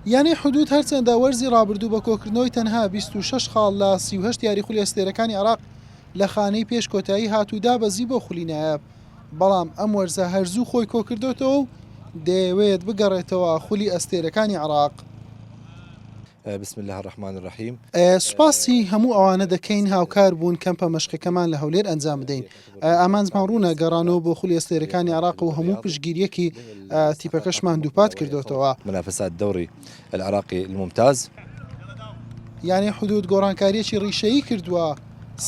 یانەی حدوود هەرچەندە وەرزی رابردوو بە کۆکردنەوەی تەنها بیست و شەش خاڵ لە سی و هەشت یاری خولی ئەستێرەکانی عێراق لە خانەی پێش کۆتایی هات و دابەزی بۆ خولی نایاب، بەڵام ئەم وەرزە هەر زوو خۆی کۆکردۆتەوە و دەیەوێت بگەڕێتەوە خولی ئەستێرەکانی عێراق. بسم اللە الرحمن الرحیم. سوپاسی هەموو ئەوانە دەکەین هاوکار بوون کەمپە مەشقەکەمان لە هەولێر ئەنجام بدەین، ئامانجمان ڕوونە، گەڕانەوە بۆ خولی ئەستێرەکانی عێراقە و هەموو پشتگیرییەکی تیپەکەشمان دووپات کردۆتەوە. منافسات دوري العراقي الممتاز. یانەی حدوود گۆڕانکارییەکی ڕیشەیی کردووە،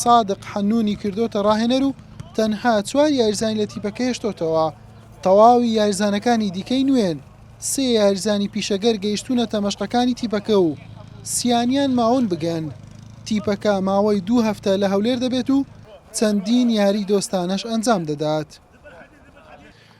سادق حەنوونی کردۆتە ڕاهێنەر و تەنها چوار یاریزانی لە تیپەکە هێشتۆتەوە، تەواوی یاریزانەکانی دیکەی نوێن، سێ یاریزانی پیشەگەر گەیشتوونەتە مەشقەکانی تیپەکە و سیانیان ماون بگەن، تیپەکە ماوەی دوو هەفتە لە هەولێر دەبێت و چەندین یاری دۆستانەش ئەنجام دەدات.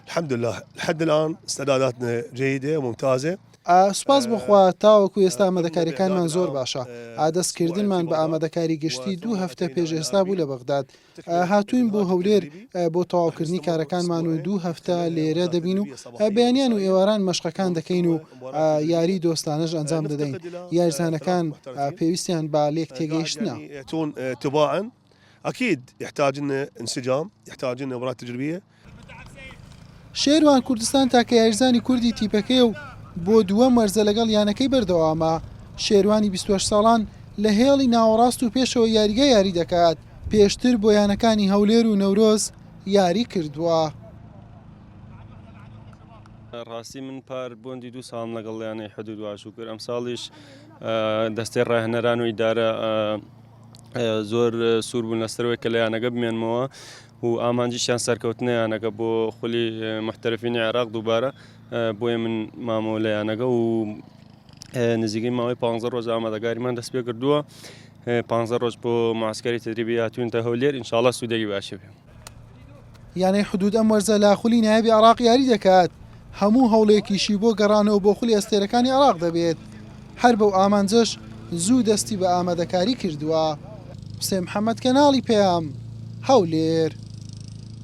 الحمدللە لحد الان استعداداتنا جیدە وممتازە. ئا سوپاس بۆ خوا تاوەکو ئێستا ئامادەکاریەکانمان زۆر باشە ئا دەست کردنمان بە ئامادەکاری گشتی دوو هەفتە پێش ئێستا بوو لە بەغداد ئا هاتووین بۆ هەولێر ئا بۆ تەواوکردنی کارەکانمان و دوو هەفتە لێرە دەبین و ئا بەیانیان و ئێواران مەشقەکان دەکەین و یاریی دۆستانەش ئەنجام دەدەین، یاریزانەکان پێویستیان بە لێکتێگەیشتنە. شێروان کوردستان تاکە یاریزانی کوردی تیپەکەیە و بۆ دووەم وەرزە لەگەڵ یانەکەی بەردەوامە، شێروانی بیست و هەشت ساڵان لە هێڵی ناوەڕاست و پێشەوەی یاریگا یاری دەکات، پێشتر بۆ یانەکانی هەولێر و نەورۆز یاریکردووە. ڕاستی من پار بۆندی دوو ساڵم لەگەڵ یانەی حدود واشو کرد ئەم ساڵیش دەستەی ڕاهێنەران و ئیدارە زۆر سوور بوون لەسەرەوەی کە لە یانەکە بمێنمەوە و ئامانجیشیان سەرکەوتنە یانەکە بۆ خولی محتەرفینی عێراق دووبارە بۆیە من مامەوە لە یانەکە و نزیکەی ماوەی پ ڕۆژ ئامادەگاریمان دەست پێ کردووە پ ڕۆژ بۆ ماسکەری تدریبی هاتوونتە هەولێر انشاءڵە سوودێکی باشە بێ یانەی حدوود ئەم وەرزە لە خولی نایابی عراق یاری دەکات هەموو هەوڵێکیشی بۆ گەڕانەوە بۆ خولی ئەستێرەکانی عراق دەبێت هەر بەو ئامانجەش زوو دەستی بە ئامادەکاری کردووە. حسێن محەمەد کەناڵی پەیام، هەولێر.